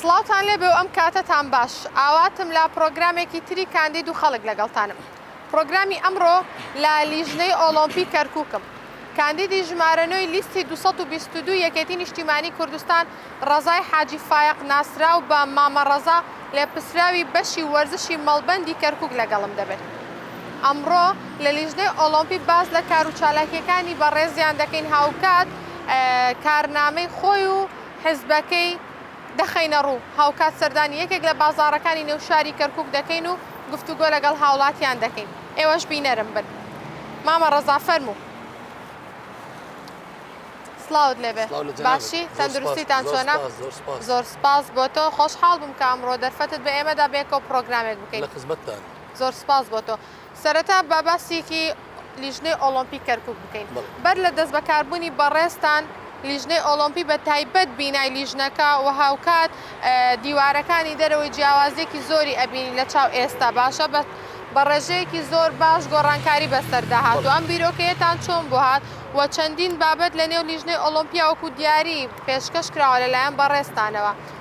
سڵاوتان لێبێ و ئەم کاتەتان باش. ئاواتم لە پڕۆگرامێکی تری کاندید و خەڵک لەگەڵتانم. پرۆگرامی ئەمڕۆ لە لیژنەی ئۆڵۆمپی کەرکوکم. کاندیدی ژمارە نۆی لیستی دوو سەد و بیست و دوو یەکێتی نیشتیمانی کوردستان ڕەزای حاجی فایەق ناسراو بە مامە ڕەزا لێپرسراوی بەشی وەرزشی مەڵبەندی کەرکوک لەگەڵم دەبێت. ئەمڕۆ لە لیژنەی ئۆڵۆمپی باس لە کارو چالاکییەکانی بەڕێزیان دەکەین هاوکات کارنامەی خۆی و حزبەکەی دەخەینەڕوو، هاوکات سەردانی یەکێک لە بازاڕەکانی نێو شاری کەرکووک دەکەین و گفتوگۆ لەگەڵ هاوڵاتیان دەکەین، ئێوەش بینەرم بن. مامە ڕەزا فەرموو. سڵاوت لێبێ. سڵاو لە جەنابت. باشی؟ زۆر سوپاس. تەندروستیتان زۆر چۆنە؟ سوپاس. زۆر سوپاس. زۆر سوپاس بۆ تۆ. خۆشحاڵ بووم کە ئەمڕۆ دەرفەتت بە ئێمەدا بێکەوە پڕۆگرامێک بکەین. لە خزمەتتانم. زۆر سوپاس بۆ تۆ. سەرەتا با باسیکی لیژنەی ئۆڵۆمپی کەرکوک بکەین بەر لە دەست بەکاربونی بەڕێزتان لیژنەی ئۆڵۆمپی بە تایبەت بینای لیژنەکە و هاوکات دیوارەکانی دەرەوەی جیاوازیەکی زۆری ئەبینین لە چاو ئێستا باشە بە بە ڕێژەیەکی زۆر باش گۆڕانکاری بەسەردا هاتوە ئەم بیرۆکەیەتان چۆن بۆ هات و چەندین بابەت لە نێو لیژنەی ئۆڵۆمپیا وەکو دیاری پێشکەش کراوە لە لایەن بەڕێزتانەوە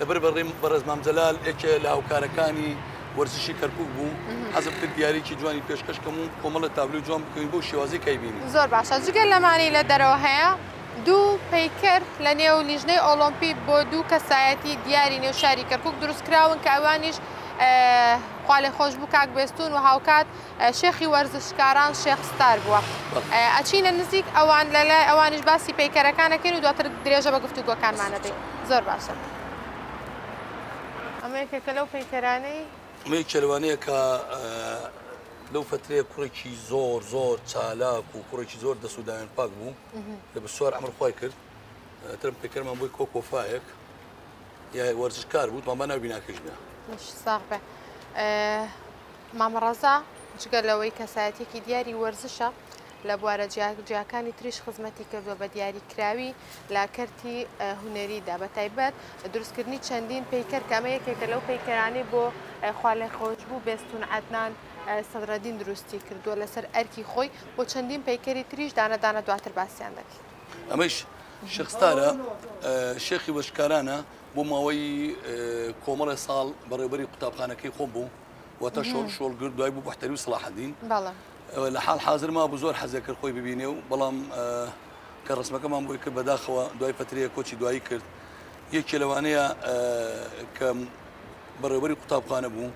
لەبەر بەڕێم بەڕێز مام جەلال ئێکێ لە هاوکارەکانی وەرزشی کەرکک بوو حەزم کرد دیارێکی جوانی پێشکەشکەم و کۆمەڵە تابلو جوان بکەین بۆ شێوازی کایبینی زۆر باشە جگە لەمانی لە دەرەوە هەیە دوو پیکەر لە نێو لیژنەی ئۆلۆمپی بۆ دوو کەسایەتی دیاری نێو شاری کەرکک دروستکراون کە ئەوانیش خوالێ خۆش بوو کاک بێستون و هاوکات شێخی وەرزشکاران شێخ ستار بووە ئەچینە نزیک ئەوان لە لای ئەوانش باسی پەیکەرەکانەکەین و دواتر درێژە بە گفتوگۆکانمانەدەین زۆر باشە ئەمەیەکێکە لەو پەیکەرانەی ئەمەی کێلوانەیەکە لەو فترەیە کوڕێکی زۆر زۆر چالاک و کوڕێکی زۆر دەسوودایان پاک بوو لە بسوار ئەمر خۆی کرد ترم پێکەرمان بۆی کۆ کۆفاایەک یا وەرزشکار بوو مامە ناوی ناکەش بێ ساغ بێ مامە ڕەزا جگە لەوەی کەسایەتیەکی دیاری وەرزشە لە بوارە جیاکانی تریش خزمەتی کردووە بە دیاریکراوی لە کەرتی هوەریدا بە تایبەت دروستکردنی چەندین پیکەر کامە یەکێکە لەو پیکەرانی بۆ خوا لە خۆشببوو بێستون عدنان سەدرەدین دروستی کردووە لەسەر ئەرکی خۆی بۆ چەندین پیکەری تریش دانەدانە دواتر باسییان دەکەین ئەمەش شخستارە شێخی بەشکارانە بۆ ماوەی کۆمەڵی ساڵ بەڕێوبەری قوتابخانەکەی خۆم بوو وەتە شۆڵ شۆڵ گرد دوای بوو بەحتەری و سلاحدین لە حال حاضر ما بوو زۆر حەزێک کرد خۆی ببینێ و بەڵام کە ڕسمەکەمان بۆی کرد بەداخەوە دوای پەترەیە کۆچی دوایی کرد یەکێ لەوانەیە کە بەڕێوەری قوتابخانە بوو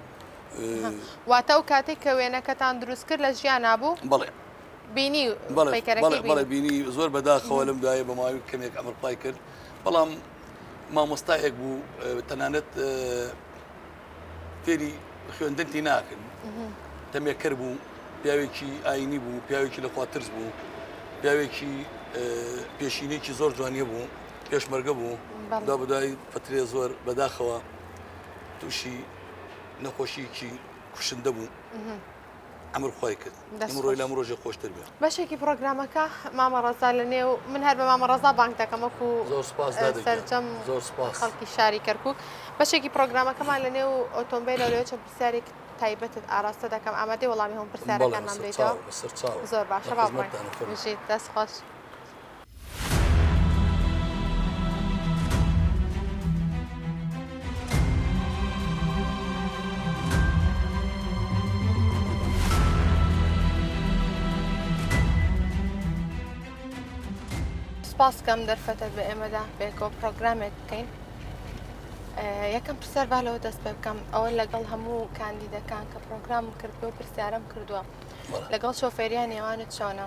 واتە و کاتێک کە وێنەکەتان دروست کرد لە ژیان نبوو بڵێ بینی بەڵێ بینی زۆر بەداخەوە لەم دوایە بە ماوی کەمێک ئەمرپای کرد بەڵام مامۆستایەک بوو تەنانەت فێری خوێندن تی ناکرد تەمێکەر بوو پیاوێکی ئاینی بوو پیاوێکی لەخوا ترس بوو پیاوێکی پێشینێکی زۆر جوانیە بوو پێشمەرگە بوو دا بدای فترێ زۆر بەداخەوە تووشی نەخۆشیکی کوشندە بوو ئەمر خۆی کرد ئەمڕۆی لەم ڕۆژی خۆشتر بێ بەشێکی پرۆگرامەکە مامە ڕزا لە نێو من هەر بە مامە ڕزا بانک دەکەمەک و زۆر سپاس سەرجەم زۆر سپاس خەڵکی شاری کەرکک بەشێکی پرۆگرامەکەمان لە نێو ئۆتۆمبیل لەوێ چەند پرسیارێک تایبەتت ئاراستە دەکەم ئامادەی وەڵامی هەم پرسیارەکانمان دەیتەوە زۆر باشە دەست خۆش سپاس کەم دەرفەتت بە ئێمەدا بێکۆ پرۆگرامێک بکەین یەکەم پرسیار با لەوە دەست پێ بکەم ئەوە لەگەڵ هەموو کاندیدەکان کە پرۆگرام کردو پرسیارم کردووە لەگەڵ شۆفێریان نێوانت چۆنە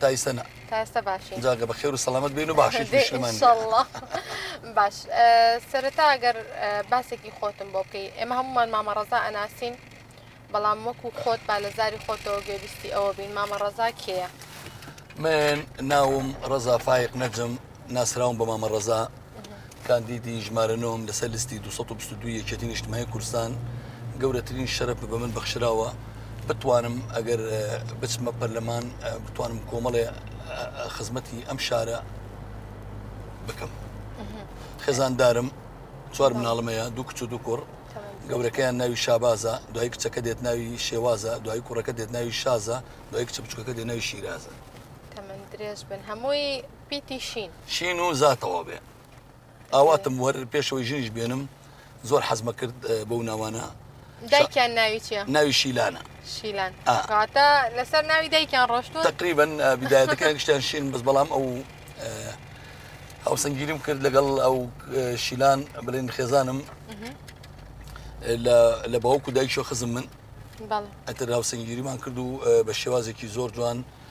تا ئیستا نا تا ئێستا باشین جاگە بە خێر و سەلامەت بین و باشی دێ، پیشمان ئینشەڵڵا. باش ئە، سەرەتا ئەگەر ئە، باسێکی خۆتم بۆ بکەی ئێمە هەموومان مامە ڕەزا ئەناسین بەڵام وەکو خۆت با لە زاری خۆتەوە گوێبیستی ئەوە بین مامە ڕەزا کێیە؟ من ناوم ڕەزا فایق نەجم ناسراوم بە مامە ڕەزا کاندیدی ژمارە نۆم لەسەر لیستی 222 یەکێتی نیشتمای کوردستان گەورەترین شەرف بە من بەخشراوە بتوانم ئەگەر بچمە پەرلەمان بتوانم کۆمەڵێ خزمەتی ئەم شارە بکەم خێزاندارم چوار مناڵمەیە دوو کچ و دوو کوڕ گەورەکەیان ناوی شابازە دوای کچەکە دێت ناوی شێوازە دوای کوڕەکە دێت ناوی شازە دوای کچە بچکەکە دێت ناوی شیرازە درێژ بن هەمووی پیتی شین. شین و زاتەوە بێ ئاواتم وەر پێشەوەی ژنیش بێنم زۆر حەزمە کرد بەو ناوانە دایکیان ناوی چیە ناوی شیلانە شیلان کاتە لەسەر ناوی دایکیان ڕۆشتون تقریبن بدایەتەکان گشتیان شین بەس بەڵام ئەو ئەو سنگگیریم کرد لەگەڵ ئەو شیلان بلین خێزانم لە باوکو دایکشۆ خزم من ئەتر هاوسنگگیریمان کرد و بە شێوازێکی زۆر جوان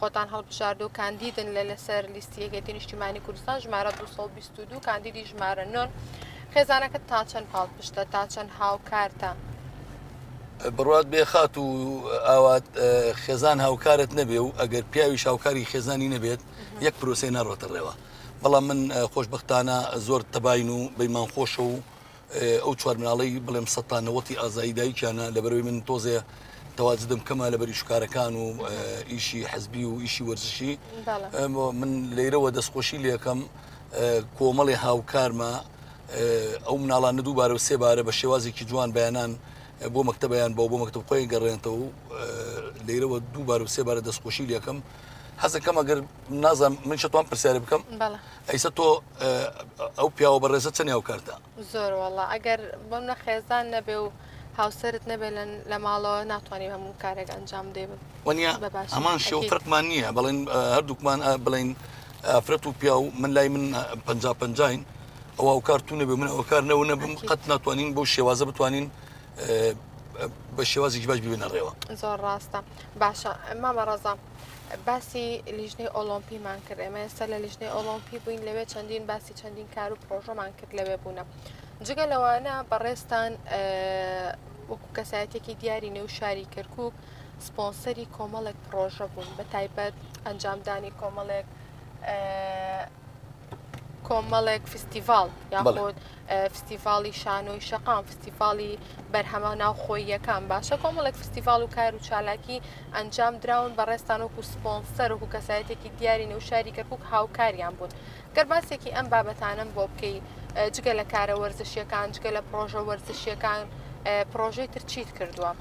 خۆتان هەڵبژاردوو کاندیدن لە لەسەر لیستی یەکێتی نیشتیمانی کوردستان ژمارە 222 کاندیدی ژمارە نۆن خێزانەکە تا چەند پاڵ پشتە تا چەند هاوکارتە بڕات بێ خات و ئاوات خێزان هاوکارت نەبێ و ئەگەر پیاوی شاوکاری خێزانی نەبێت یەک پرۆسی ناڕۆتە ڕێوە بەڵام من خۆشببختانە زۆر تەباین و بەیمان خۆشە و ئەو چوار مناڵەی بڵێم سەد تا نەوەتی ئازایی دایکیانە لەبەرەوەی من تۆزێ تەواجدم کەمە لە بەری شکارەکان و ئیشی حزبی و ئیشی وەرزشی من لێرەوە دەستخۆشی لەکەم کۆمەڵی هاوکارمە ئەو مناڵان ندوو بارە و سێبارە بە شێوازێکی جوان بەیانان بۆ مەکتتەبیان بە بۆ مەکتب خۆی گەڕێنتەوە و لێرەوە دوو بار و سێ بارە دەستخۆشی لەکەم حەزەکەم ئەگەر نازم من شتوان پرسیارە بکەم ئەیسە تۆ ئەو پیاوە بەڕێزە چەنی هاوکارتە؟ زۆر وەڵا ئەگەر بۆم نە خێزان نەبێ و هاوسەرت نەبێ لە ماڵەوە ناتوانانی هەموو کارێک ئەنجام دێ وەنیا هەمان شێو فرقمان نییە بەڵێن هەردووکمان بڵین ئافرەت و پیا و من لای من پ پنجین ئەوە و کارتون نەبێ من ئەو کار نەوە نەبم قەت ناتوانین بۆ شێوازە بتوانین بە شێوازی باش ببێنە ڕێوە زۆر ڕاستە باشە ئەمە بەڕزام. باسی لیژنەی ئۆڵۆمپیمان کرد ئێمە ئێستا لە لیژنەی ئۆڵۆمپی بووین لەوێ چەندین باسی چەندین کار و پرۆژەمان کرد لەوێ بوونە جگە لەوانە بەڕێستان وەکو کەسایەتێکی دیاری نێو شاری کەرکک سپۆنسەری کۆمەڵێک پرۆژە بوون بە تایبەت ئەنجامدانی کۆمەڵێک کۆمەڵێک فستیڤال یاخود فستیڤاڵی شانۆی شەقام، فستیڤاڵی بەرهەمە ناوخۆییەکان، باشە کۆمەڵێک فستیڤاڵ و کار و چالاکی ئەنجام دراون بە ڕێزتان وەکو سپۆنسەر وەکو کەسایەتێکی دیاری نێو شاری کەرکوک هاوکاریان بوون، گەر باسێکی ئەم بابەتانەم بۆ بکەی جگە لە کارە وەرزشیەکان جگە لە پڕۆژە وەرزشیەکان پڕۆژەی تر چیت کردووە؟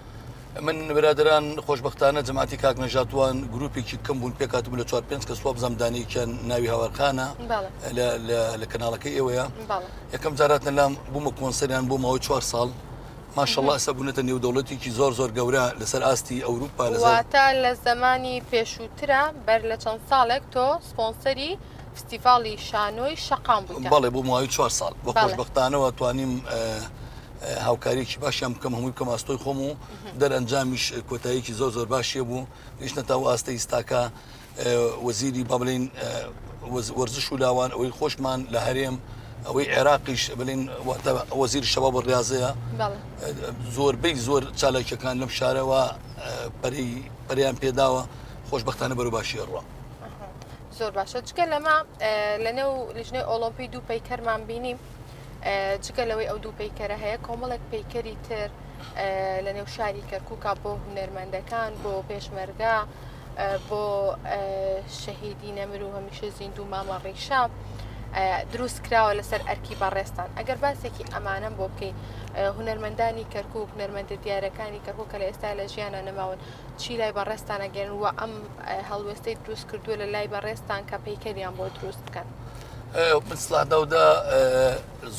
من برادەران خۆشبەختانە جەماتی کاک نەژات وان گروپێکی کەم بوون پێکاتبوو لە چوار پێنج کە سواب زەمدانێکیان ناوی هاوارخانە لە کەناڵەکەی ئێوەیە یەکەم جارات نەلام بوومە کۆنسەریان بۆ ماوەی چوار ساڵ ماشەڵە ئەسە بوونەتە نێودەوڵەتێکی زۆر زۆر گەورە لەسەر ئاستی ئەوروپا لەزاتە لە زمانی پێشووترە بەر لە چەند ساڵێک تۆ سپۆنسەری فستیڤاڵی شانۆی شەقام بوویتە؟ بەڵێ بۆ ماوەی چوار ساڵ، بە خۆشبەختانەوە توانیم هاوکاریەکی باشیان بکەم هەمووی بکەم ئاستۆی خۆم و دەرەنجامیش کۆتاییەکی زۆر زۆر باشیە بوو گەیشتە تا و ئاستە ئیستاکە وەزیری با بڵین وەرزش و لاوان ئەوەی خۆشمان لە هەرێم ئەوەی عێراقیش بڵین واتە وەزیر شەباب و ڕاضەیە بەڵێ زۆربەی زۆر چالاکیەکان لەم شارەوە پەری پەریان پێداوە خۆشببختانە بەرو باشی ڕوە زۆر باشە جگە لەمە لەنێو لیژنەی ئۆلۆمپی دوو پەیکەرمان بینی جگە لەوەی ئەو دوو پەیکەرە هەیە کۆمەڵێک پەیکەری تر لە نێو شاری کەرکووکا بۆ هونەرمەندەکان بۆ پێشمەرگا بۆ شەهیدی نەمر و هەمیشە زیندوو مامە ڕیشە دروست کراوە لەسەر ئەرکی بەڕێستان ئەگەر باسێکی ئەمانم بۆ بکەی هونەرمەندانی کەرکک هونەرمەندە دیارەکانی کەرکک کە لە ئێستا لە ژیانە نەماون چی لای بەڕێزتان ئەگەن وە ئەم هەڵوێستەی دروست کردووە لە لای بەڕێزتان کە پەیکەریان بۆ دروست بکەن. بسلادەودا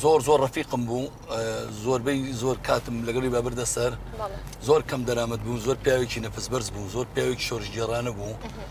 زۆر زۆر ڕفیقم بوو زۆربەی زۆر کاتم لەگەڵی بابردە سەر زۆر کەم دەرامەت بوو زۆر پیاوێکی نەفس بەرز بوو زۆر پیاوێکی شۆرشگێڕانە بوو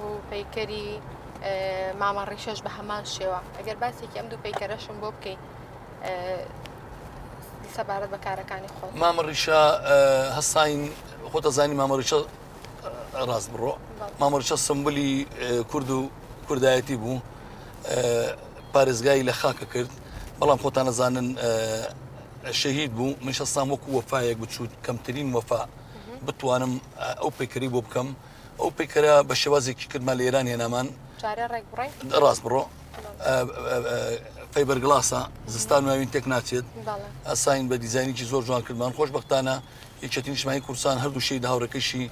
و پەیکەری مامە ڕیشەش بە هەمان شێوە ئەگەر باسێکی ئەم دوو پەیکەرەشم بۆ بکەین سەبارەت بە کارەکانی خۆ مامە ڕیشە هەستین خۆتە زانی مامە ڕیشە ڕاست بڕۆ مامە ڕیشە سمبلی کورد و کوردایەتی بوو پارێزگای لە خاکە کرد بەڵام خۆتان نەزانن شەهید بوو من شەستان وەکو وەفاەک بچوت کەمترین وەفا بتوانم ئەو پێکری بۆ بکەم ئەو پەیکەرە بە شێوازێکی کردمان لە ئێران هێنامان ڕاست بڕۆ فەیبەر گڵاسە زستان ناوین تێک ناچێت ئەساین بە دیزانینی زۆر جوان کردمان خۆشببختانە یەکێتی نیشمانی کوردستان هەردوو شی هاوڕەکەشی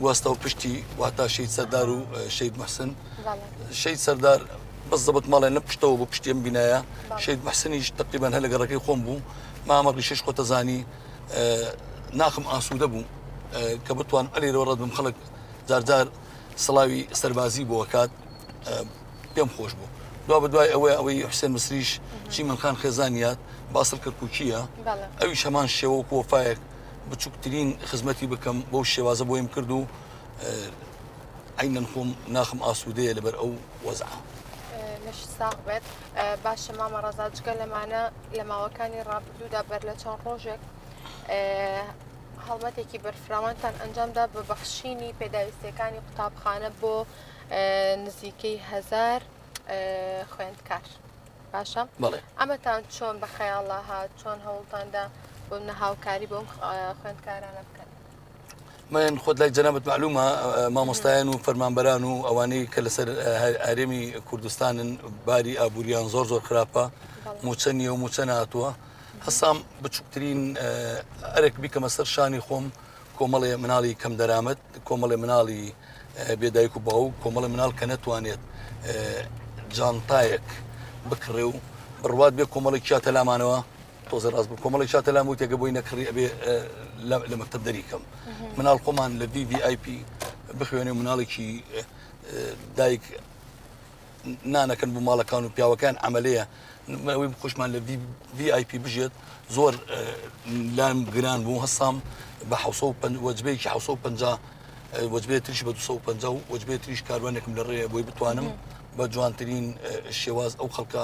گواستە و پشتی واتا شید سەردار و شید محسن شید سەردار بەس زەبت ماڵێ لە پشتەوە بۆ پشتیم بینایە شید محسنیش تقریبان هەر لەگەڕەکەی خۆم بوو مامە ڕیشش خۆتەزانی ناخم ئاسوودە بوو کە بتوان ئەلیرەوە ڕەت بم خەڵک جارجار سڵاوی سەربازی بۆکات پێم خۆش بوو دو بە دوای ئەوەی ئەوەی حسێن مسریش چی منخان خێزانیات باسڵ کەرکوچیە ئەوی هەمان شێوە کۆفاەک بچووکترین خزمەتی بکەم بۆ شێوازە بۆیم کرد و ئەی من خۆم ناخم ئاسوودەیە لەبەر ئەو وەزعە. لەش ساق بێت باشە مامە ڕزاجگە لەمانە لە ماوەکانی ڕابردوودا بەر لە چەند ڕۆژێک هەڵمەتێکی بەرفراوانتان ئەنجامدا بە بەخشینی پێداویستەکانی قوتابخانە بۆ نزیکەی هزار خوێندکار باشە ئەمەتان چۆن بە خەیاڵە هات چۆن هەوڵتاندا بۆ نە هاوکاری بۆم خوێندکارانە بکەن من خۆت لای جەنابەت معلومە مامۆستایان و فەرمانبەران و ئەوانەی کە لەسەر ئارێمی کوردستانن باری ئابووریان زۆر زۆر خراپە موچە نیە و موچە ناتووە هەسام بچووکترین ئەرێک بیکەمە سەر شانی خۆم کۆمەڵێ مناڵی کەم دەرامەت کۆمەڵێ مناڵی بێدایک و باو کۆمەڵی مناڵ کە نەتوانێت جانتایەک بکڕێ و بڕوات بێ کۆمەڵێکیا تەلامانەوە تۆزێ ڕاست بوو کۆمەڵی چاتە لام وتێگە بۆی نەکڕی ئەبێ لە مەکتب دەری کەم مناڵ خۆمان لە وی وی آی پی بخوێنێ مناڵێکی دایک نانەکەن بۆ ماڵەکان و پیاوەکان ئەمەلەیە ئەوەی خوشمان لە وی آی پی بژێت زۆر لام گران بوو هەستام بە ح وەجبەیەکی ح وەجبێ تریش بە 250 وەجبێ تریش کاروانێکم لە ڕێە بۆی بتوانم بە جوانترین شێواز ئەو خەڵکە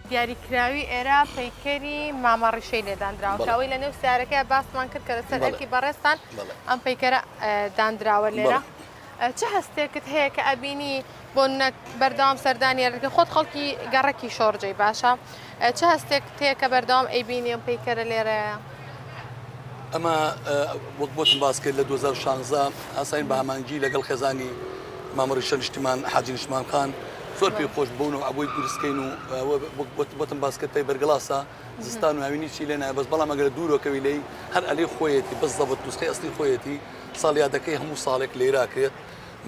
دیاریکراوی ئێرە پەیکەری مامە ڕیشەی لێداندراوە کە ئەوەی لە نێو سارەکەی باسمان کرد کە لەسەر ئەرکی بەڕێزتان ئەم پەیکەرە داندراوە لێرە چه هەستێکت هەیە کە ئەبینی بۆ نەک بەردەوام سەردانی ئەرکە خۆت خەڵکی گەڕەکی شۆڕجەی باشە چه هەستێک تێکە بەردەوام ئەیبینی ئەم پەیکەرە لێرەیە ئەمە وەک بۆتم باس کرد لە 2016 ئاساین بە ئامانجی لەگەڵ خێزانی مامەڕیشە نیشتیمان حاجی نیشمان خان زۆر پێ خۆش بوون و ئەوەی گورسکەین و بۆتم باس کرد پێی بەرگڵاسە زستان و هاوینی چی لێنای بەس بەڵام ئەگەر دوورۆکەوی لی هەر ئەلی خۆیەتی بەس زەبت دوستقی ئەسلی خۆیەتی ساڵیادەکەی هەموو ساڵێک لێراکرێت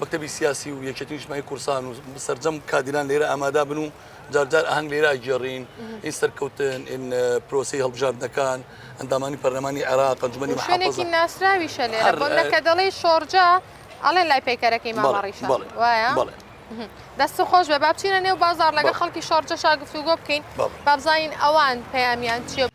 مەکتتەبی سیاسی و یەکێتی نیشمای کورسان و سەررجەم کادیران لێرە ئامادا بن و جارجار ئاهەنگ لێرا گێڕین ئین سەرکەوتن ئین پرۆسی هەڵبژاردنەکان ئەندامانی پەرلەمانی عێراق ئەنجومەنی شوێنێکی ناسراویشە لێرە بۆ نەکە دەڵی شۆرجە ئەڵێ لای پەیکەرەکەی ماڕیش وایە دەست خۆش بە بابچینە نێو بازار لەگە خەڵکی شۆرجە شاگفتوگۆ بکەین بابزین ئەوان پەیامیان چیە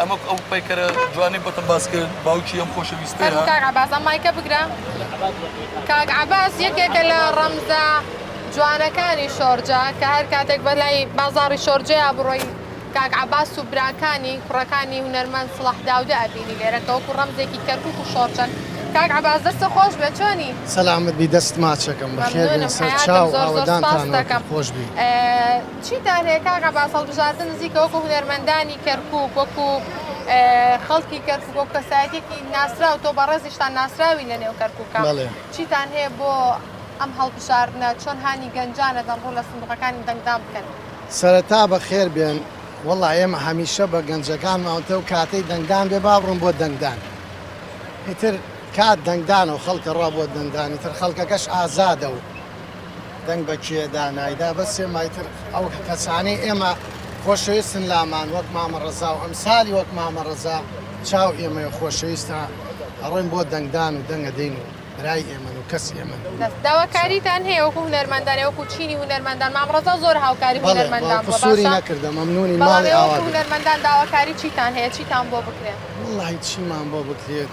ئەمە ئەو پەیکەرە جوانی بۆتە باس کرد باوکی ئەم خۆشەویستە بازان مایکە بگرە کاک عباس یەکێکە لە ڕەمزە جوانەکانی شۆرجە کە هەر کاتێک بەلای بازاری شۆرجەیە بڕۆی کاک عباس و براکانی کوڕەکانی هونەرمەن سڵح داودە ئەبینی لێرە کەوەکو ڕەمزێکی کەرکک و شۆرجەن کاک عباس دەستە خۆش بێ چۆنی سەلامت بی دەست ماچەکەم بەخێ سەر چاو ئاوەدانتان خۆش بی. چیتان هەیە کاک عەباس هەڵبژاردن نزیکە وەکو هونەرمەندانی کەرکوک وەکو خەڵکی کەرکوک وەکو کەسایەتیەکی ناسراو تۆ بەڕێزیشتان ناسراوی لە نێو کەرکوکە چیتان هەیە بۆ ئەم هەڵبژاردنە چۆن هانی گەنجانەدەن ڕوو لە سندوقەکانی دەنگدان بکەن؟ سەرەتا بەخێر بێن وەڵا ئێمە هەمیشە بە گەنجەکانمان وتەو کاتەی دەنگدان بێ با بڕۆن بۆ دەنگدان ئیتر کات دەنگدانەوە خەڵکە ڕا بۆ دەنگدان ئیتر خەڵکەکەش ئازادە و دەنگ بە کێ دا نایدا بەس ئێمای تر ئەو کەسانەی ئێمە خۆشەویستن لامان وەک مامە ڕەزا و ئەمسالی وەک مامە ڕەزا چاو ئێمەیە خۆشەویستە ئەڕۆین بۆ دەنگدان و دەنگ ئەدەین و برای ئێمەن و کەسی ئێمەن بەس داواکاریتان هەیە وەکو هونەرمەندان یان وەکو چینی هونەرمەندان مام ڕەزا زۆر هاوکاری بەڵێ هونەرمەندان بەڵێ بووە قسووری باشە نەکردە مەمنوونین بەڵام ماڵی ئێوە ئاوا وەکو بێت هونەرمەندان داواکاری چیتان بۆ بکرێ؟ وەڵڵاهی چیمان بۆ بکرێت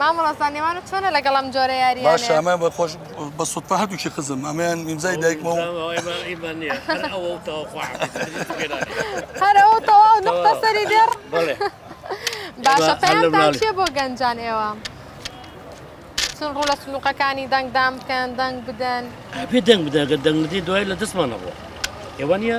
مامۆستا نێوانت چۆنە لەگەڵ ئەم جۆرە یاریانە؟ باشە ئەمە بە خۆش بە سوتفە هەردووکی قزم ئەمەیان ئیمزای دایکمە و هەر ئەوە تەواو نقطە سەری دێڕ باشە پێیانتان چیە بۆ گەنجان ئێوە؟ چون ڕوو لە سنووقەکانی دەنگدان بکەن دەنگ بدەن پێ دەنگ بدەگە دەنگدی دوای لە دەستمانەوە ئێوە نیە؟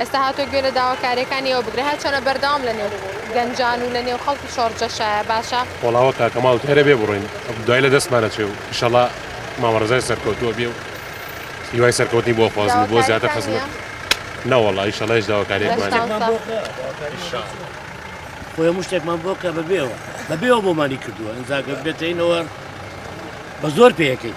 ئێستا هاتووە گوێ لە داواکارییەکانی ئەو بگرێ، هەرچەنە بەردەوام لە نێو گەنجان و لە نێو خەڵکی شۆڕجە شایە باشە. وەڵاوە کاکە ماڵ تەرە بێ بڕۆین دوای لە دەستمان ئەچێ و ئیشەڵا مامە ڕەزای سەرکەوتووە بێ و هیوای سەرکەوتنی بۆ ئەخوازم و بۆ زیاتر حەزم نەوەڵا ئیشەڵا هیچ داواکارییەکمان نییە. هەموو شتێکمان بۆ کرا داواکاری بۆ چی؟ خۆی هەموو شتێکمان بۆ کە بە بێ ئەوە بە بێ ئەوە بۆمانی کردووە ئینجا گەر بێتە ئینەوە بە زۆر پێیەکەین.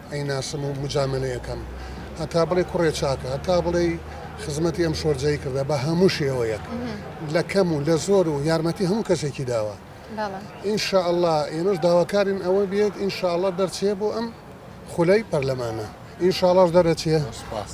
ئەیناسم و موجامەلەی ئەکەم هەتا بڵێی کوڕێ چاکە هەتا بڵێی خزمەتی ئەم شۆرجەی کردە بە هەموو شێوەیەک لە کەم و لە زۆر و یارمەتی هەموو کەسێکی داوە ئینشاءله ئێمەش داواکارین ئەوە بێت ئینشاءله دەرچێ بۆ ئەم خولەی پەرلەمانە ئینشاڵاش دەرەچێ سپاس.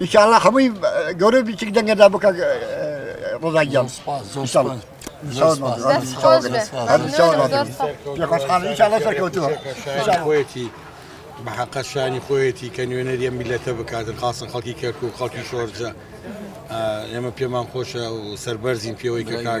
ان شاء الله هەمووی گەورە بی چک دەنگە دا بکە ڕزا گیان خۆیەتی بەحقە شانی خۆیەتی کە نوێنەریە میلەتە بکاتن خاصە خەڵکی کەرک و خەڵکی شۆرجە ئێمە پێمان خۆشە و سەربەرزین پێوەی کە کار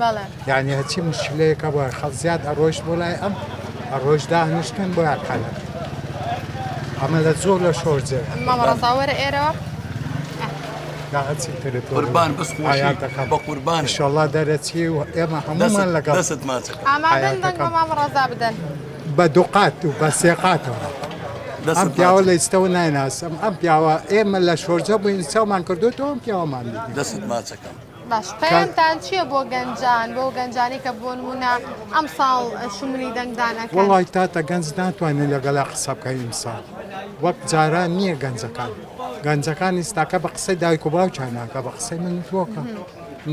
بەڵێ. یانی هەرچی مشکلەیەکە بۆ خەڵ زیاد ئەڕۆیشت بۆ لای ئەم ئەڕۆیش داهنیشتن بۆ یاکانە ئەمە لە زۆر لە شۆر جێ مامەڕزاوەرە ئێرەوە قوربان بس خۆشی بە قوربان شڵا دەرەچی و ئێمە هەمومان لەگەڵ دەست ماچەکە مامەڕزا بدەن بە دوقات و بە سێقاتەوە. ئەم پیاوە لە ئیستەوە نایناسم ئەم پیاوە ئێمە لە شۆرجە بووین چاومان کردوێتەوە ئەم پیاوەمان دەست ماچەکەم. باش پەیامتان چیە بۆ گەنجان بۆ گەنجانی کە بۆ نمونە ئەم ساڵ شومنی دەنگدان ئەکەن؟ وەڵای تاتە گەنج ناتوانێت لەگەلا قسە بکە ئیمساڵ وەک جاران نییە گەنجەکان گەنجەکان ئیستاکە بە قسەی دایک و باوکیان ناکە بە قسەی من تۆکە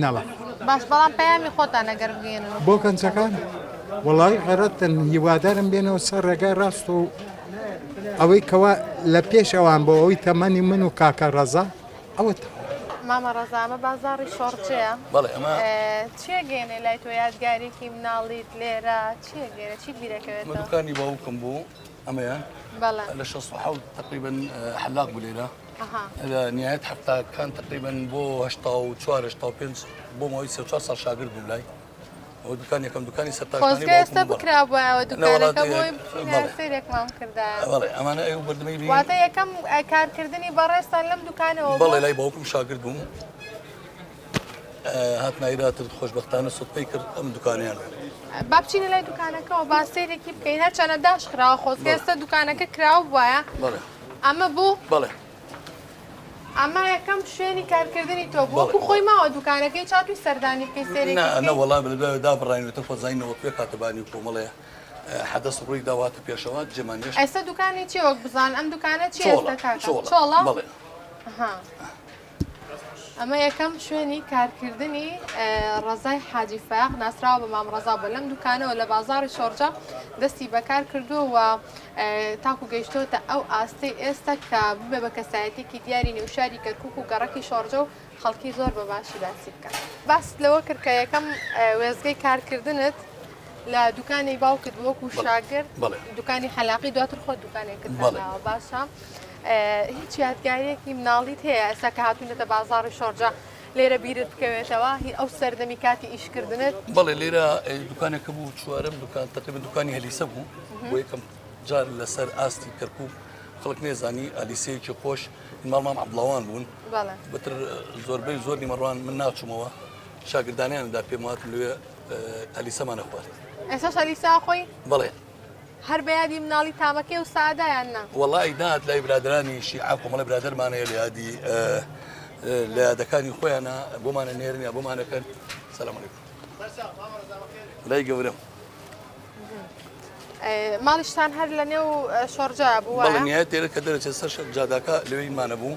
نەڵە باش بەڵام پەیامی خۆتان ئەگەر بگەێنن بۆ گەنجەکان وەڵی غەرەتن هیوادارم بێنەوە سەر ڕێگای ڕاست و ئەوەی کەوا لە پێش ئەوان بۆ ئەوی تەمەنی من و کاکە ڕەزا ئەوە تەواو. مامە ڕەزا ئەمە بازاڕی شۆڕجێە بەڵێ ئەمە چێگەێنێ لای تۆ یادگارێکی مناڵیت لێرە چێگەێنە چی بیرەکەوێت دوکانی باوکم بوو ئەمەیە لە شە حوت تقریبن حلاق بوو لێرە لە نهایەت هەفتاکان تقریبن بۆ هشتا و چوارشتا و پێ بۆ ماوەی سێ چوار ساڵ شاگرد بووم لای خۆزگە ئێستا بکرابوایەوە دوکانەکە بۆی بچینە سەیرێکمان بکردایە واتە یەکەم کارکردنی بەڕێزتان لەم دوکانەوە بەڵێ لای باوکم شاگرد بووم هاتنایراتر خۆشببختانە سوپی کرد ئەم دوکانیان با بچینە لای دوکانەکەەوە با سەیرێکی بکەین هەرچەنە داش خراوە خۆزگە ئێستا دوکانەکە کراوە بواە ئەمە بوو بڵێ ئەمە یەکەم شوێنی کارکردنی تۆ بوو وەکو خۆی ماوە دوکانەکەی چا توی سەردانی بکەی سێری نە وەڵا بە دوای دابڕاینەوە خۆزای نەوە پێ کاتەبانی و کۆمەڵێ حەدەس ڕووی داواتە پێشەوە جێمان نێش ئێستا دوکانی چی وەک بزان ئەم دوکانە چی چۆڵە ئەمە یەکەم شوێنی کارکردنی ڕەزای حاجی فایەق ناسراوە بە مام ڕەزا بووە لەم دوکانەوە لە بازاری شۆڕجە دەستی بەکار کردووە و تاکو گەیشتۆتە ئەو ئاستەی ئێستا کە ببێ بە کەسایەتێکی دیاری نێوشاری کەرکک و گەڕەکی شۆڕجە و خەڵکی زۆر بە باشی باسی بکە باست لەوە کرد کە یەکەم وێزگەی کارکردنت لە دوکانی باوکت بۆکو شاگرد دوکانی خەلاقی دواتر خۆ دوکانێکت باشە. هیچ یادگاریەکی مناڵیت هەیە ئێستا کە هاتونەتە بازاڕی شۆرجە لێرە بیرت بکەوێتەوە هی ئەو سەردەمی کاتی ئیشکردنت بڵێ لێرە دوکانێکە بوو چوارم دوکان تەقیب دوکانی هەلیسە بوو بۆ یەکەم جار لەسەر ئاستی کەرکک خەڵک نێزانی ئەلیسەیەکی خۆش ماڵمان عبڵاوان بوون بەتر زۆربەی زۆر نیمەڕوان من ناچمەوە شاگردانیاندا پێم وات لێ ئەلیسەمانە خوارد ئێستا شەلیسا خۆی بڵێ هەر بە یادی مناڵی تامەکەی و سەعەدا یان نا؟ وەڵایی نەهات لای برادەرانی شیعە کۆمەڵێ برادەرمان هەیە لە یادی لە یادەکانی خۆیانە بۆمان ئەنێرن یا بۆمان ئەکەن سەلام علیکم لای گەورەم ماڵیشتان هەر لە نێو شۆڕجا بوو بەڵێ نهایەت تێرە کە دەرەچێت سەر شەر جاداکە لەوێی مانەبوو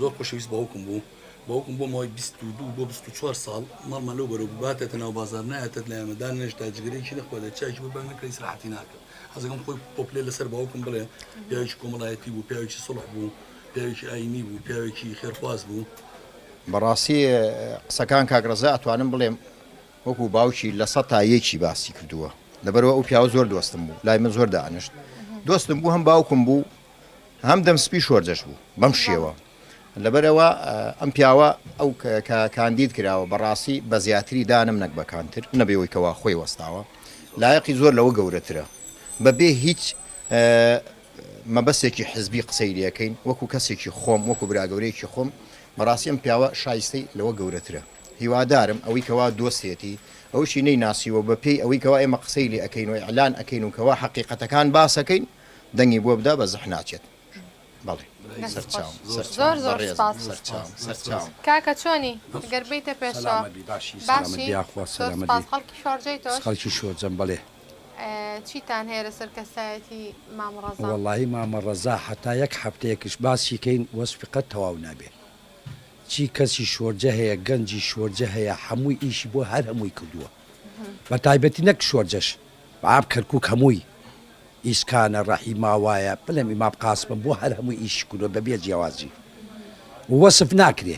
زۆر خۆشەویست باوکم بوو باوکم بۆ ماوەی بیست و دوو بۆ بیست و چوار ساڵ ماڵمان لەو بەرەو بباتێتە ناو بازاڕ نایەتێت لە ئێمە دانەنێشت تا جگەرەیەکی نەخوات یا چایەکی ببەن نەکرێت ئیسراحەتی ناکرد حەزەکەم خۆی پۆپلێ لەسەر باوکم بڵێ پیاوێکی کۆمەڵایەتی بوو پیاوێکی سوڵح بوو پیاوێکی ئاینی بوو پیاوێکی خێرخواز بوو بەڕاستی قسەکان کاک ڕەزا ئەتوانم بڵێم وەکو باوکی لە سە تا یەکی باسی کردووە لەبەرەوە ئەو پیاوە زۆر دۆستم بوو لای من زۆر دانیشت دۆستم بوو هەم باوکم بوو هەم دەم سپی شۆرجەش بوو بەم شێوە لەبەرەوە ئەم پیاوە ئەو کاندید کراوە بەڕاستی بە زیاتری دانم نەک بەکانتر نەبێەوەی کەوا خۆی وەستاوە لایەقی زۆر لەوە گەورەترە بەبێ هیچ مەبەستێکی حزبی قسەی لەکەین وەکو کەسێکی خۆم وەکو براگەورەیەکی خۆم بەڕاستی ئەم پیاوە شایستەی لەوە گەورەترە هیوادارم ئەوەی کەوا دۆستێتی ئەوشی نەی ناسیوە بە پێی ئەوەی کەوا ئێمە قسەی لێ ئەەکەین و ئەلان ئەەکەین و کەوا حقیقەتەکان باسەکەین دەنگی بۆ بدا بە زح ناچێت بەڵێ سەرچاوم سەرچاوم بەڕێزم سەرچاوم سەرچاوم. کاکە چۆنی گەر بێیتە پێشەوە باشی سەلامەت یاخوا سەلامەت بی خەڵکی شۆرجەی تۆش خەڵکی شۆرجەم بەڵێ. چیتان هەیە لەسەر کەسایەتی مام ڕەزا. وەڵاهی مامە ڕەزا حەتا یەک حەفتەیەکش باسی کەین وەسفی قەت تەواو نابێ چی کەسی شۆرجە هەیە گەنجی شۆرجە هەیە حەمووی ئیشی بۆ هەر هەمووی کردووە بەتایبەتی نەک شۆرجەش باب کەرکوک هەمووی ئیسکانە ڕەحی ماوایە بلێم ئیمام قاسمم بۆ هەر هەمووی ئیشی کردوە بەبێ جیاوازی وەسف ناکرێ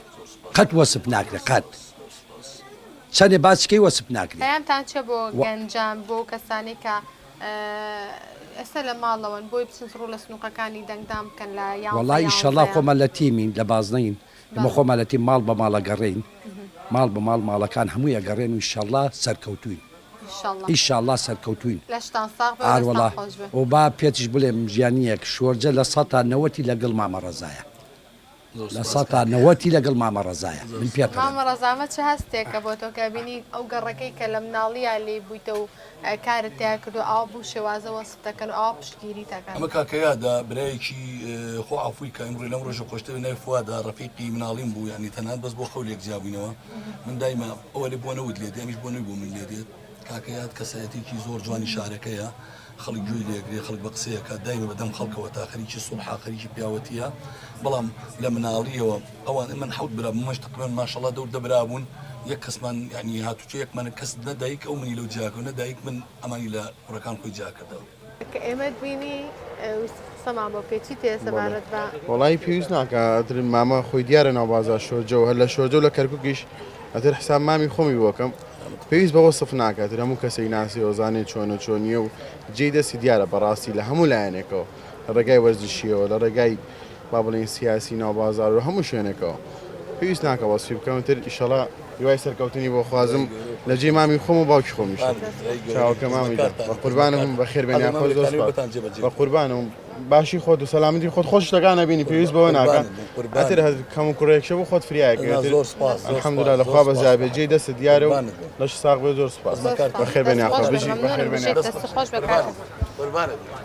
قەت وەسف ناکرێ قەت چەنێ باسی کەی وەسف ناکرێ. پەیامتان چیە بۆ گەنجان بۆ ئەو کەسانەی کە ئێستا لە ماڵەوەن بۆی بچن ڕوو لە سنوقەکانی دەنگدان بکەن لە یانزە یانزە. وەڵا ئیشەڵا خۆمان لە تیمین لە بازنەین. ئێمە خۆمان لە تیم ماڵ بە ماڵ ئەگەڕێین ماڵ بە ماڵ ماڵەکان هەمووی ئەگەڕێن و ئیشەڵڵا سەرکەوتووین ئیشەڵڵا سەرکەوتووین ئاروەڵا و با پێتیش بڵێم ژیانیەک شۆرجە لە سەتا نەوەتی لەگەڵ مامە ڕەزایە لە سەتا نەوەتی لەگەڵ مامە ڕەزایە من پێ ڕەزامە چ هەستێکە بۆ تۆ کابینی ئەو گەڕەکەی کە لە مناڵیا لێی بوویتە و کارت تیا کردوە ئاوا بو شێوازە وەسف دەکەن و ئاوا پشتگیریت ئەکەن. ئەمە کاکە یادە برایەکی خۆ عەفوی کە ئەمڕۆی لەم ڕۆژە خۆشترە ناوی فوادە ڕەفیقی مناڵیم بوو یانی تەنها بەس بۆ خەو لێک جیابووینەوە من دایمە ئەوە لێ بۆ نەوت لێ دێ ئەمیش بۆ نەوی بۆ من لێ دێت کاکە یاد کەسایەتێکی زۆر جوانی شارەکەیە خەڵک گوێی لێگرێ خەڵک بە قسەیەکە دایمە بەدەم خەڵکەوە تا خەریکی سوڵحا خەریکی پیاوەتیە بەڵام لە مناڵیەوە ئەوان ئەمن حەوت برا بوو مەشت قران ماشەڵا دەور دە برا بوون یەک کەسمان یعنی هاتوچۆ یەکمانە کەس نە دایک ئەو منی لەو جیاکەوە نە دایک من ئەمانی لە کوڕەکان خۆی جیا کردەوە. کە ئێمەت بینی ویست قسەمان بۆ بکەی چی تێ سەبارەت بە. وەڵایی پێویست ناکا ئەتر مامە خۆی دیارە ناو بازار شۆرجە و هەر لە شۆرجە و لە کەرکوکیش ئەتر حساب مامی خۆمی بۆ کەم پێویست بە وەسف ناکا ئەتر هەموو کەسێک ناسێ و زانێ چۆنە چۆنیە و جێی دەستی دیارە بەڕاستی لە هەموو لایەنێکەوە. لە ڕێگای وەرزشییەوە، لە ڕێگای با بڵێین سیاسی ناو بازار و هەموو شوێنێکەوە. پێویست ناکا وەسفی بکەم تر ئیشەڵا هیوای سەرکەوتنی بۆ خوازم لە جێی مامی خۆم و باوکی خۆمیش چاوەکە مامی بە قوربانم بە خێر بێنیا خۆش زۆر سپاس بە قوربانم باشی خۆت و سەلامەتی خۆت خۆش شتەکان نەبینی پێویست بەوە ناکە ئەتر هەر کەم و کوڕێکشە بۆ خۆت فریایەکە زۆر سپاس الحمدلله لە خوا بەزابێ جێی دەست دیارە و لەش ساغ بێ زۆر سپاس بە خێر بێنیا خۆ بژی بە خێر بێنیا خۆش بە قوربانت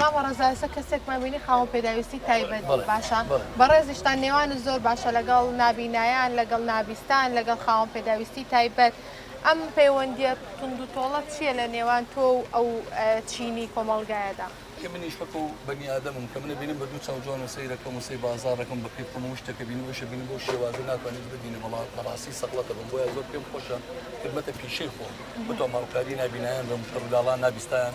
مامە ڕەزا ئێستا کەسێکمان بینی خاوەن پێداویستی تایبەت بوو باشە بەڕێزیشتان نێوانت زۆر باشە لەگەڵ نابینایان لەگەڵ نابیستان لەگەڵ خاوەن پێداویستی تایبەت ئەم پەیوەندیە توند و تۆڵە چییە لە نێوان تۆ و ئەو چینی کۆمەڵگایەدا؟ کە منیش وەکو بەنی ئادەمم کە منە بینم بە دوو چاو جوان و سەیرەکەم و سەی بازاڕەکەم و بە کەیف هەموو شتەکە بینم ئەویشە بینم بەو شێوازە ناتوانیت ببینی بەڵا بە ڕاستی سەغڵەتە بم بۆیە زۆر پێم خۆشە خدمەتە پیشەی خۆم بە تۆماڵکاری نابینایان بم کەڕولاڵا نابیستایان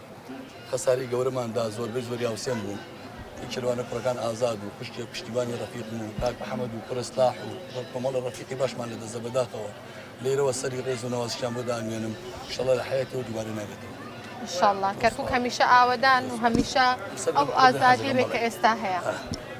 خەساری گەورەمان دا زۆربەی زۆری هاوسێن بوون ی کێروانە کوڕەکان ئازاد و خوشکێ پشتیوانی ڕەفیقم و کاک ئەحمەد و کوڕێ سلاح و کۆمەڵێ ڕەفیقی باشمان لە دەستدا بەداخەوە لێرەوە سەری ڕێز و نەوازشیان بۆ دانوێنم ئیشەڵا لە حەیاتیەوە دووبارەی ناگەتەوە. ان شاءاللە کەرکوک هەمیشە ئاوەدان و هەمیشە ئەو ئازادیە بێ کە ئێستا هەیە.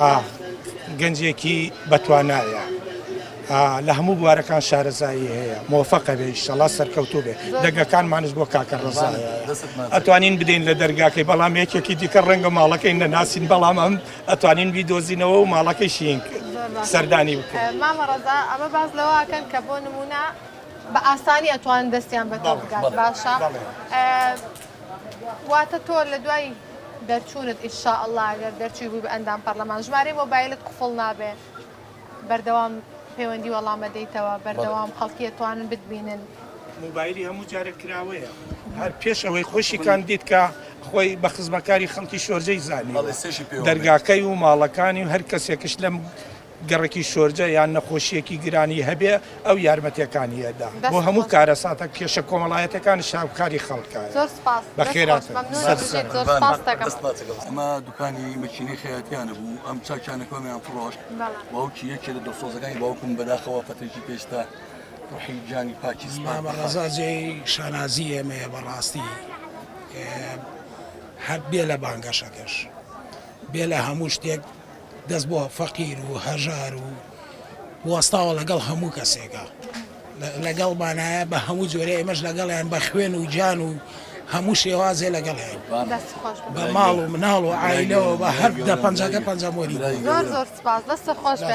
ئا گەنجێکی بەتوانایە ئا لە هەموو بوارەکان شارەزایی هەیە مۆفەقە بێ ئیشەڵا سەرکەوتوو بێ دەگەکانمانش بۆ کاکە ڕزایە ئەتوانین بدەین لە دەرگاکەی بەڵام یەکێکی دیکە ڕەنگە ماڵەکەی نەناسین بەڵام ئەم ئەتوانین بیدۆزینەوە و ماڵەکەی شینک سەردانی بکەین مامە ڕزا ئەمە باز لەواکەن کە بۆ نمونە بە ئاسانی ئەتوان دەستیان بەتۆ بگات باشە واتە تۆ لە دوای دەرچوونت ان شاء اللە گەر دەرچووی بووی بە ئەندام پەرلەمان ژمارەی مۆبایلت قفڵ نابێ بەردەوام پەیوەندی وەڵام ئەدەیتەوە بەردەوام خەڵکی ئەتوانن بتبینن. مۆبایلی هەموو جارێ کراوەیە هەر پێش ئەوەی خۆشی کاندید کا خۆی بە خزمەکاری خەڵکی شۆرجەی زانیوە دەرگاکەی و ماڵەکانی و هەر کەسێکش لەم گەڕەکی شۆرجە یان نەخۆشییەکی گرانی هەبێ ئەو یارمەتیەکانی ئەدا بۆ هەموو کارەساتە کێشە کۆمەڵایەتەکانیش هاوکاری خەڵکە بەخێرا ئەمە دوکانی مەکینەی خەیاتیانە بوو ئەم چاکیانە کۆمیان فڕۆشت باوکی یەکێ لە دۆسۆزەکانی باوکم بەداخەوە پەتێکی پێستا ڕحی جانی پاکی ڕزاجێ شانازی ئێمەیە بەڕاستی هەر بێ لە بانگەشەکەش بێ لە هەموو شتێک دەست بۆ فەقیر و هەژار و وەستاوە لەگەڵ هەموو کەسێکە لەگەڵمانایە بە هەموو جۆرە ئێمەش لەگەڵیان بە خوێن و جان و هەموو شێوازێ لەگەڵیان بە ماڵ و مناڵ و ئایلەوە بە هەر دە پەنجەکە پەنجەمۆری زۆر زۆر سپاس دەستە خۆش بێ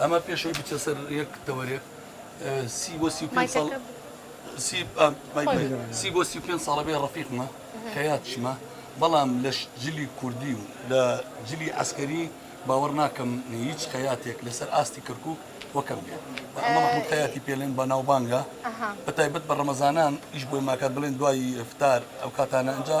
ئەمە پێش ئەوەی بچێتە سەر یەک تەوەرێک سی بۆ سی و پێنج ساڵ سی ئا، مایک بێ، سی بۆ سی و پێنج ساڵە بێ ڕەفیقمە حەیاتشمە بەڵام لە ش جلی کوردی و لە جلی عەسکەری باوەڕ ناکەم هیچ خەیاتێک لەسەر ئاستی کەرکووک وەکەم بێ و ئەمە مەحموود خەیاتی پێ لێن بەناوبانگە بەتایبەت بە ڕەمەزانان ئیش بۆی ماکات بڵێن دوای ئیفتار ئەو کاتانە ئینجا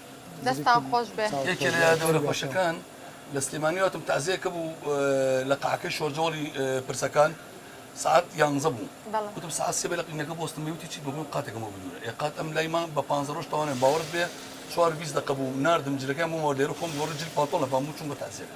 دەستتان خۆش بێ. یەکێ لە یادەوەرە خۆشەکان لە سلێمانی هاتم تازیە کە بوو لە قەعەکەی شۆرجەوەڵی پرسەکان سەعات یانزە بوو وتم سەعات سێ بێ لە قینەکە بۆستم بێ وتی چی بە بۆم قاتێکم بۆ بدورە ئێ قات ئەم لای مام بە پانزە ڕۆژ تەوانێ باوەڕت بێ چوار و بیست دەقە بوو ناردم جلەکەیان بۆمەوە لێرە خۆم گۆڕی جل پانتۆڵ نەپام بوو چووم بە تازیەکە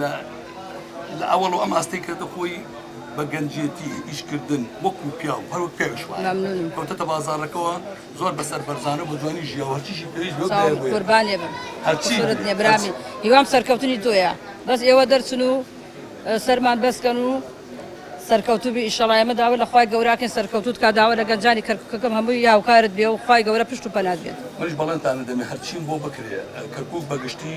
لە ئەوەڵۆ ئەم ئاستەی کردە خۆی بە گەنجێتی ئیشکردن وەکو پیاو هەروەک پیاویش وایە ممنونم کەوتەتە بازاڕەکەەوە زۆر بەسەر بەرزانە بە جوانی ژیا و هەرچیشی پێویست بێ ساو بێ قوربانێ بم هەرچی قورت بێ. نیە برامی هیوام سەرکەوتنی تۆیە بەس ئێوە دەرچن و ئە، سەرمان بەسکەن و سەرکەوتوو بی ئیشەڵا ئێمە داوا لە خوای گەوراکەین سەرکەوتووت کا داوا لە گەنجانی کەرکوکەکەم هەمووی هاوکارت بێ و خوای گەورە پشت و پەنات بێت. منیش بەڵێنتانە دەمێ هەرچیم بۆ بکرێ کەرکوک بەگشتی.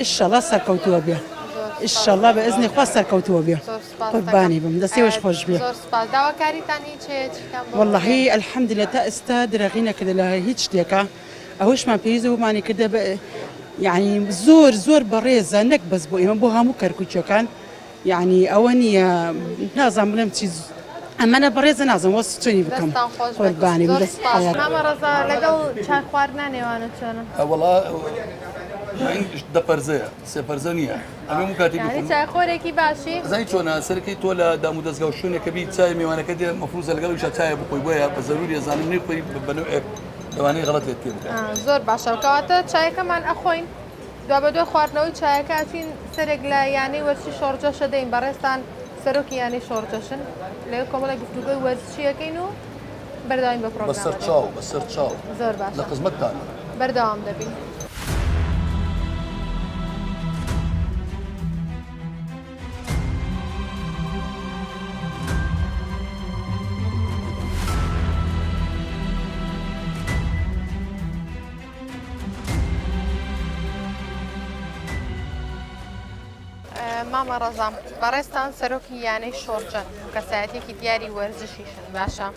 ئیشەڵا سەرکەوتووە بێ ئیشەڵا بە ئەزنی خوا سەرکەوتووە بێ قوربانی بم دەسێوش خۆش بێ وەڵی ئەلحەمدی لە تا ئێستا درەغی نەکردە لە هیچ شتێکە ئەوشمان پێویست بوومانی کردە یعنی زۆر زۆر بەڕێزە نەک بەس بۆ ئێمە بۆ هەموو کەرکوچەکان یەعنی ئەوە نیە نازانم بڵێم چی. ئەمەنە بەڕێزە نازم وەسف چۆنی بکەم قوربانی بم دەست خۆش. مامە ڕەزا لەگەڵ چای خواردنا نێوانت چۆنە؟ وەڵا ئینگلیش دە پەرزەیە سێ پەرزە نییە ئەمە هەموو کاتێک یانی بخۆم چای خۆرێکی باشی. زانی چۆنە سەرەکی تۆ لە دام و دەزگا و شوێنێکە بیت چای میوانەکە دێ مەفروزە لەگەڵیشا چایە بخۆی بۆیە بە زەروری ئەزانم نەیخۆی بە نەوعێک لەوانەیە غەڵەتێت پێ بکا. ئا زۆر باشە کەواتە چایەکەمان ئەخۆین. دوابەدوای خواردنەوەی چایەکە ئەچین سەرێک لە یانەی وەرزشی شۆڕجەش دەدەین، بەڕێزتان سەرۆکی یانەی شۆڕجەشن، لەوێ کۆمەڵێک گفتوگۆی وەرزشی ئەکەین و بەردەوامی بە پڕۆگرامەکە دەدەین. بەسەرچاو، بەسەرچاو. زۆر باشە. لە خزمەتتانین. بەردەوام دەبین. مامە ڕەزام بەڕێستان سەرۆکی یانەی شۆڕجە کەسایەتێکی دیاری وەرزشیشن باشە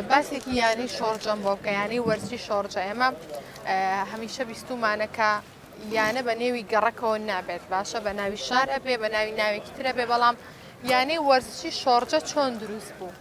باسێکی یانی شۆڕجەم بۆ کە یانی وەرزی شۆڕجە ئێمە هەمیشە بیستومانەکە یانە بە نێوی گەڕەکەەوە نابێت باشە بە ناوی شار ئەبێ بە ناوی ناوێکی ترە بێ بەڵام یانەی وەرزشی شۆڕجە چۆن دروست بوو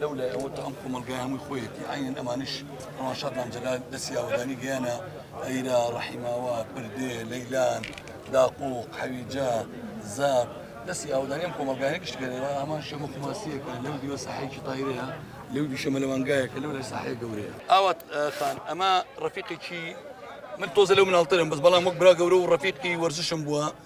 لەو لای ئەوە تا ئەم کۆمەڵگای هەمووی خۆیەتی ئاینەن ئەمانش ئەوان شادمان جەلال دەستی ئاوەدانی گەیانە ئەیرا ڕەحیماوا پردێ لەیلان داقوق حەویجە زاب دەستی ئاودانیم کۆمەلگایە گشت گەرەوە ئامان شەمە کوماسیەکە لەو دیوە ساحێکی تایرەیە لەو دیشە مەلەوانگایەکە لەو لە ساحێ گەورەیە ئاوات خان ئەمە ڕفیقێکی من تۆزە لەو مناڵترم بەس بەڵام وەک برا گەورە و ڕفیقی وەرزشم بووە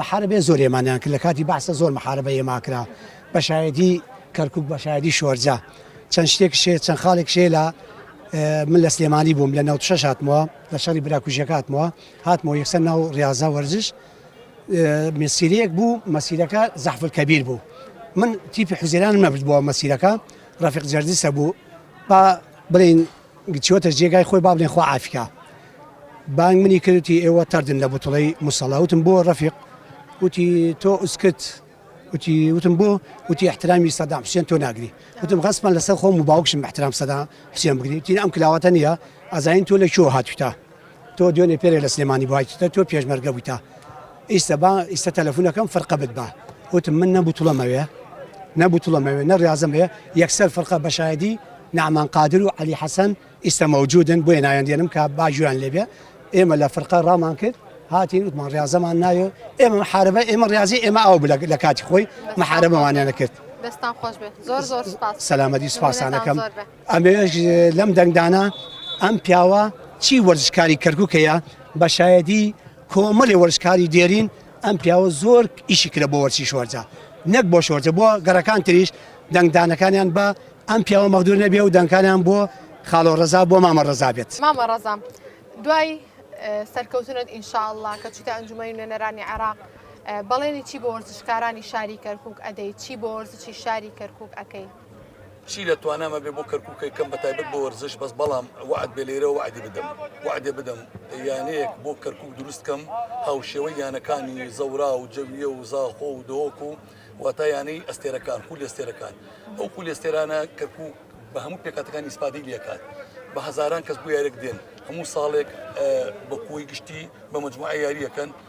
محاربەیە زۆر ئێمانیان کرد لەکاتی بەعسە زۆر محاربە ئێما کرا بە شایەدی کەرکوک بە شایەدی شۆرجە چەند شتێک شێ چەند خاڵێک شێ لە من لە سلێمانی بووم لە ناو شەش هاتمەوە لە شەڕی براکوژیەکە هاتمەوە هاتمەوە یەکسەر ناو ڕاضە وەرزش مسیرەیەک بوو مەسیرەکە زەحفل کەبیر بوو من تیپی حوزێران نەبرد بۆ مەسیرەکە ڕفق جەردیسە بوو با بڵین چوەتە جێگای خۆی با بلێن خوا عافی کا بانگ منی کرد وتی ئێوە تەردن لە بوتڵەی موسەڵا وتم بۆ ڕەفیق وتی تۆ ئوسکت وتی وتم بۆ وتی احترامی سەدام حسێن تۆ ناگری وتم غەسپەن لەسەر خۆم و باوکشم احترام سەدام حسێن بگری وتی ئەم کلاوەتە نییە ئەزانین تۆ لە کوێوە هاتوویتە تۆ دوێنێ پێرێ لە سلێمانی بوایتتە تۆ پێشمەرگە بوویتە ئیستا با ئیستا تەلەفونەکەم فرقە بت بە وتم من نە بوتڵەمەوێ نە بوتڵەمەوێ نە ڕاضم بێ یەکسەر فرقە بە شایدی نعمان قادر و علی حەسەن ئیستا مەوجودن بۆیە نایان دێنم کە باجویان لێبێ ئێمە لە فرقە ڕامان کرد هاتین وتمان ڕاضەمان نایە ئێمە حاربە ئێمە ڕازی ئێمە ئەو بلە لە کاتی خۆی محاربەوانیانە کرد دەستان خۆش بێت زۆر زۆر سپاس سەلامەتی سپاسانەکەم ئەمەوێت لەم دەنگدانە ئەم پیاوە چی وەرزشکاری کەرکووکەیە بە شایەدی کۆمەڵی وەرزشکاری دێرین ئەم پیاوە زۆر ئیشی کرە بۆ وەرچی شۆرجە نەک بۆ شۆرجە بۆ گەڕەکان تریش دەنگدانەکانیان بە ئەم پیاوە مەغدور نەبێ و دەنگکانیان بۆ خاڵۆ ڕزا بۆ مامە ڕزا بێت مامە ڕزام دوای سەرکەوتنت ئینشاءله کە چیتە ئەنجومی نوێنەرانی عێراق بەڵێنی چی بۆ وەرزشکارانی شاری کەرکک ئەدەی چی بۆ وەرزشی شاری کەرکک ئەەکەی چی لە توانامە بێ بۆ کەرکوکەی کەم بەتایبەت بۆ وەرزش بەس بەڵام وعد بێ لێرە وعدی بدەم وعدێ بدەم یانەیەک بۆ کەرکک دروستکەم هاوشێوەی یانەکانی زەورا و جەویە و زاخۆ و دۆک و واتا یانەی ئەستێرەکان خول ئێستێرەکان ئەو خول ئێستێرانە کەرکک بە هەموو پێکاتەکانی ئیسپادی لەکات بە هزاران کەس بۆ یارێک دێن هەموو ساڵێک بە کوی گشتی بە مجموعە یاریەکەن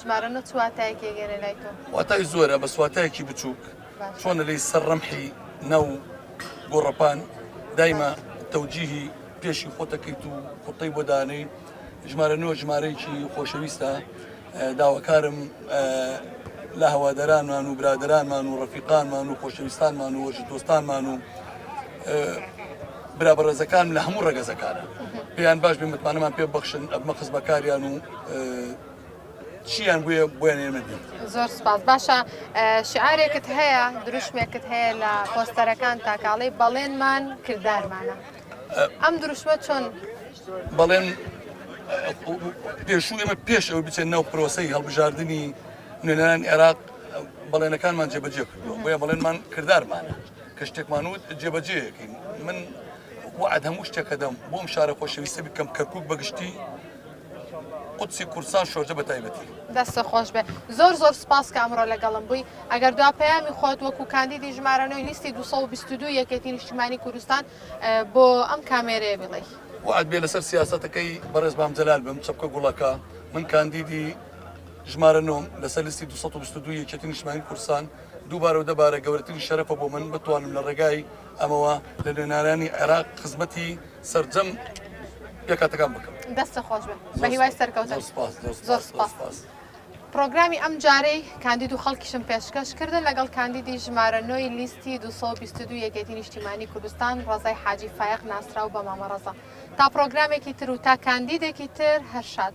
ژمارە نۆ چ واتایەکی ئەگێرێ لای تۆ؟ واتای زۆرە بەس واتایەکی بچووک باشە چۆنە لەی سەر ڕەمحی ناو گۆڕەپان دایمە باشە تەوجیهی پێشی خۆتەکەیت و قوتەی بۆ دانێی ژمارە نۆ ژمارەیەکی خۆشەویستە اه، داواکارم اه، لە هەوادارانمان و برادەرانمان و ڕەفیقانمان و خۆشەویستانمان و وەرزش دۆستانمان و برا بەڕێزەکانم لە هەموو ڕێگەزەکانە پێیان باش بێ متمانەمان پێ بەخشن ئەبمە خزمەکاریان و چیان بووە بۆیان ئێمە بێت زۆر سپاس باشە شعارێکت هەیە دروشمێکت هەیە لە پۆستەرەکان تاکاڵی بەڵێنمان کردارمانە ئەم دروشمە چۆن بەڵێن پێشوو ئێمە پێش ئەو بچێن ناو پرۆسی هەڵبژاردننی نوێنەران عێراق بەڵێنەکانمان جێبەجێ کردووە بۆیە بەڵێنمان کردارمانە کە شتێکمان وت جێبەجێەکەین من وعد هەموو شتێکە دەم بۆم شارە خۆشەویستە بکەم کەرکک بەگشتی قوچی کورسان شۆرجە بە تایبەتی دەستە خۆش بێ زۆر زۆر سپاس کە ئەمڕۆ لەگەڵم بووی ئەگەر دو پەیامی خۆت وەکو کاندیدی ژمارەنەوەی لیستی 222 یەکێتی نیشتمانی کوردستان بۆ ئەم کامێرەیە بڵێ وعد بێ لەسەر سیاستەکەی بەڕێز بام جەلال بم چەپکە گوڵەکە من کاندیدی ژمارە نۆم لەسەر لیستی 222 یەکێتی نیشتمانی کورسان دووبارە و دەبارە گەورەترین شەرەفە بۆ من بتوانم لە ڕێگای ئەمەوە لە نوێنەرانی عێراق خزمەتی سەرجەم پێکهاتەکان بکەم. دەستە خۆش بێت بە هیوای زۆر سەرکەوتن سوپاس زۆر زۆر سوپاس زۆر سوپاس سوپاس. پڕۆگرامی ئەم جارەی کاندید و خەڵکیشم پێشکەش کردن لەگەڵ کاندیدی ژمارە نۆ ی لیستی 222 یەکێتی نیشتیمانی کوردستان ڕەزای حاجی فایەق ناسراو بە مامە ڕەزا تا پڕۆگرامێکی تر و تا کاندیدێکی تر هەر شاد.